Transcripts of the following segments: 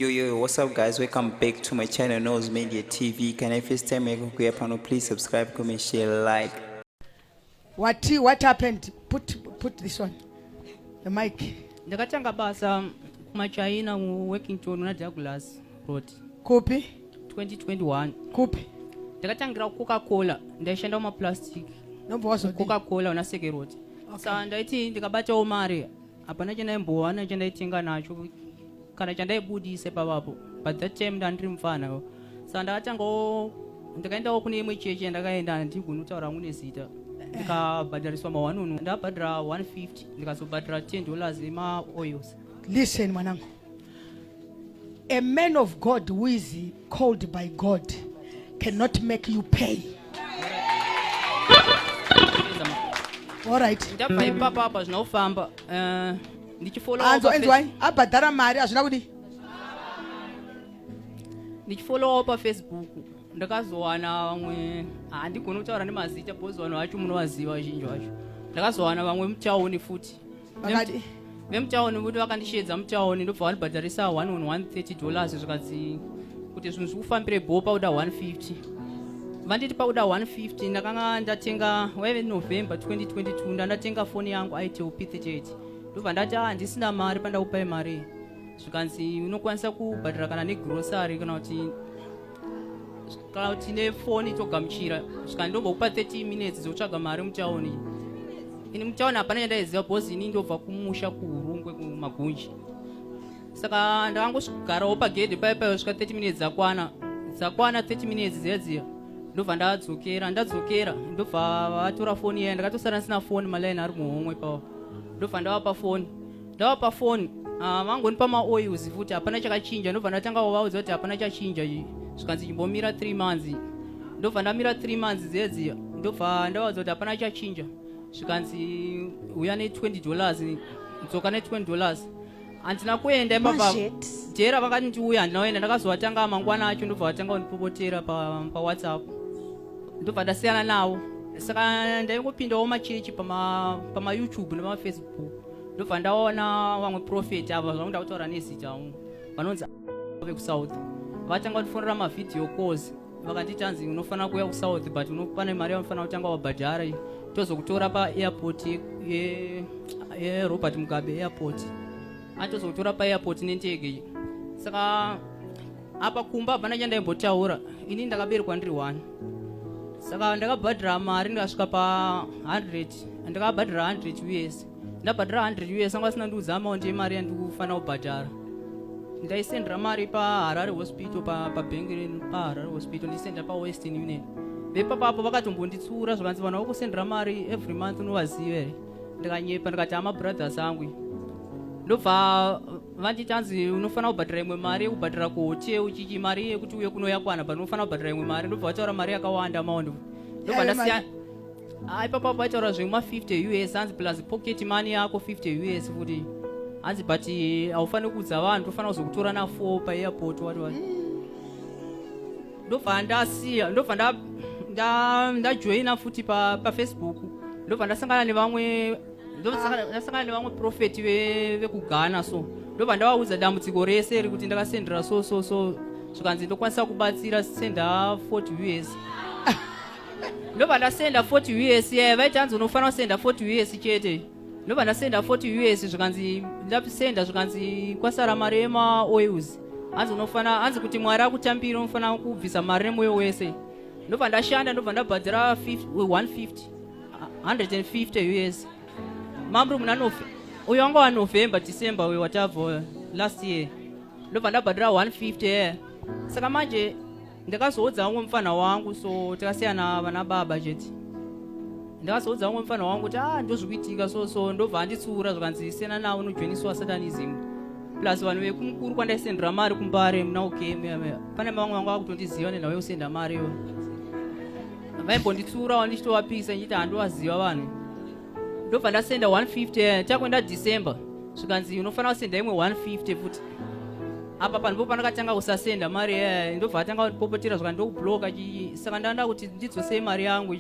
Yo yo yo, what's up guys? Welcome back to my channel Nose Media TV. Can I first time make kuya pano please subscribe, comment, share, like. What what happened? Put put this one. The mic. Ndakatanga basa kuma China mu working tour na Douglas Road. Kupi? 2021. Kupi? Ndakatangira Coca-Cola, ndaishanda kuma plastic. Nombo wazo Coca-Cola una Seke Road. Okay. Saka ndaiti ndikabatawo mari. Hapana chendaimbowana chendaitenga nacho. kana chandaibudise pavapo but that time ndandiri mupfana saka ndakatangawo ndakaendawo kune imwe chechi yandakaenda handigoni kutaura hangu nezita ndikabhadhariswa mawanunu ndabhadhara 150 ndikazobhadhara 10 dollars emaoils listen mwanangu a man of god who is called by God cannot make you pay. All right. Ndabva ipapa apa zvina kufamba. Eh, ndichifollow. Anzo enzwai abhadhara mari hazvina kudi. Ndichifollow pa Facebook. Ndakazowana vamwe handigoni kutaura nemazita because vanhu vacho munovaziva vazhinji vacho. Ndakazowana vamwe muchaoni futi. vakati vemutown voti vakandisheedza mutown ndobva vandibhadharisa one on one thirty dollars zvikanzi kuti zvinhu zvikufambire bho pakuda one fifty vanditi pakuda one fifty ndakanga ndatenga waive november twenty twenty two ndandatenga foni yangu itel p thirty eight ndobva ndati a ah, handisina mari pandakupai mari zvikanzi unokwanisa kubhadhara kana negrosary kana kuti kana tine foni togamuchira saka ndombokupa 30 minutes dzokutsvaga mari mutaoni ini mutaoni hapana chandaiziva bhozi ini ndobva kumusha kuhurungwe kumagunji saka ndakangosvigarawo pagedhe paye paye svika 30 minutes dzakwana dzakwana 30 minutes dziya dziya ndobva ndadzokera ndadzokera ndobva vatora foni yaya ndakatosara ndisina foni malaini ari muhomwe pawo ndobva ndavapa foni ndavapa foni ah, vangondipa maoils futi hapana chakachinja ndobva ndatanga kuvaudza kuti hapana chachinja zvikanzi chimbomira three months ndobva ndamira three months dzedzi ndobva ndavaudza kuti hapana chachinja zvikanzi uya ne20 dollars dzoka ne20 dollars handina kuenda ipapa jera vakati ndiuya handina kuenda ndakazovatanga mangwana acho ndobva vatanga kundipopotera pawhatsapp pa ndobva ndasiyana navo saka ndaingopindawo machechi pamayoutube pama nemafacebook ndobva ndaona vamwe profeti ava zvakuda kutaura nezita wangu vanonzi vekusouth vatanga kutifonera mavhidhiyo calls vakati tanzi unofanira kuuya kusouth but pane mari yaunofanira kutanga wabhadhara tozokutora paairport yerobert mugabe airport atozokutora paairport nendege saka apa kumba hapana chandaimbotaura ini ndakaberekwa ndiri one saka ndakabhadhira mari ndikasvika pa 100 ndakabhadhira 100 us ndabhadhira 100 us anga asina ndiudza amaundi yemari yandikufanira kubhadhara ndaisendera mari paharare hospital pabhengi renu paharare hospital ndisendera pawestern union vepapapo vakatombonditsuura zvakanzi vanhu vakusendera mari every month unovaziva here ndikanyepa ndikati amabrothers angu ndobva vati chanzi unofanira kubhadhara imwe mari yekubhadhara kuhotel uchichi mari yekuti uye kuno yakwana but unofanira kubhadhara imwe mari ndobva vataura mari yakawanda maondo ndobva ndasiya ah, ipapa vaitaura zvema 50 us hanzi plus pocket money yako 50 us futi hanzi but eh, haufaniri kuudza vanhu tofanira kuzokutora na four paairport wati wati ndobva ndasiya ndobva ndajoina futi pafacebook ndobva ndasangana nevamwe ndosakana nevamwe profeti vekughana so ndobva ndavaudza dambudziko rese rekuti ndakasendera so so so zvikanzi ndokwanisa kubatsira senda 40 us ndobva ndasenda 40 us yaya vaiti hanzi unofanira kusenda 40 us chete ndobva ndasenda 40 us zvikanzi ndasenda zvikanzi kwasara mari yemaoils hanzi unofana hanzi kuti mwari akutambira unofanira kubvisa mari nemwoyo wese ndobva ndashanda ndobva ndabhadhira 150 150 years mamri muna November uyo wanga wa November December uyo watavo last year ndobva ndabhadhira 150 yeah. saka manje ndakazoudza umwe mfana wangu so takasiyana vana baba chete ndakazoudza umwe mfana wangu kuti ah ndozvikuitika so so ndobva anditsiura zvikanzi siyana nawo unojoiniswa satanism plus vanhu vekumukuru kwandaisendera mari kumbare muna ukm pane vamwe vanga vakutondiziva nenhau yekusenda mari iyoyo vaimbonditsiurawo ndichitovapisa ndichiti handiwaziva vanhu ndobva ndasenda 150 eh, takuenda december zvikanzi unofanira kusenda imwe 150 futi apa panhu po pandakatanga kusasenda mari eh, ndobva atanga kupopotera zvaka ndokubloka saka ndanda kuti ndidzosei mari yangu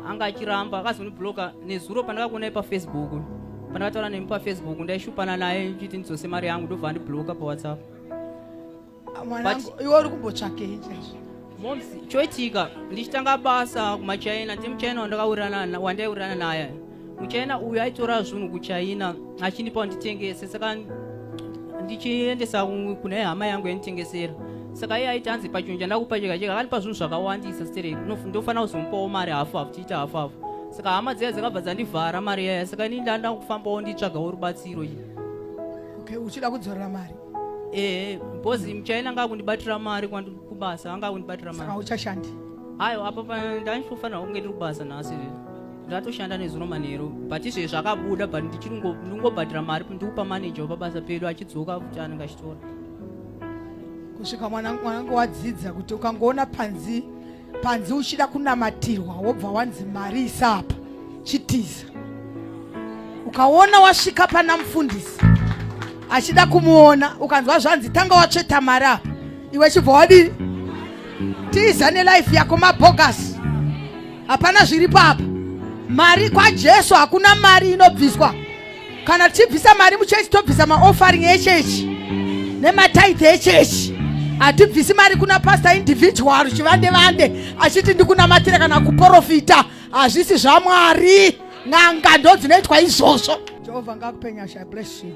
anga achiramba akazondibloka nezuro pandakakuonai pafacebook pandakataura nemi pafacebook ndaishupana naye ndichiti ndidzose mari yangu ndobva andibloka pawhatsapp mwanangu iwe uri kumbotsvakei chaizvo moms choitika ndichitanga basa kumachina ndimuchina wandakawirirana wandaiwirirana naye muchina uyu aitora zvinhu kuchina achindipa nditengese saka ndichiendesa kune hama yangu yanditengesera saka iye aiti anzi pachinhu chandakupa chega chega akandipa zvinhu zvakawandisa stere ndofanira kuzomupawo mari hafu hafu tiita hafu hafu saka hama dziya dzakabva dzandivhara mari yaya saka ini ndanda kufambawo nditsvagawo rubatsiro iyi okay uchida kudzorera mari eh because muchaina anga kundibatira mari kwandi kubasa anga kundibatira mari saka uchashandi hayo apa ndaifanira kunge ndiri kubasa nhasi ndatoshanda nezuro manheru but izvezvi zvakabuda but ndichiri ndingobhadhira mari ndikupa manager wepabasa pedu achidzoka kuti anenge achitora kusvika mwanangu wadzidza kuti ukangoona panzi panzi uchida kunamatirwa wobva wanzi mari isapa chitiza ukaona wasvika pana mufundisi achida kumuona ukanzwa zvanzi tanga watsveta mari apa iwe chibva wadii tiza nelife yako mabhogasi hapana zviri papa mari kwajesu hakuna mari inobviswa kana tichibvisa mari muchechi tobvisa maoffering echechi nemataithe echechi hatibvisi mari kuna pastor individual chivande vande achiti ndikunamatira kana kuprofita hazvisi zvamwari n'anga ndo dzinoitwa izvozvo jehovha ngakupenyasha bless you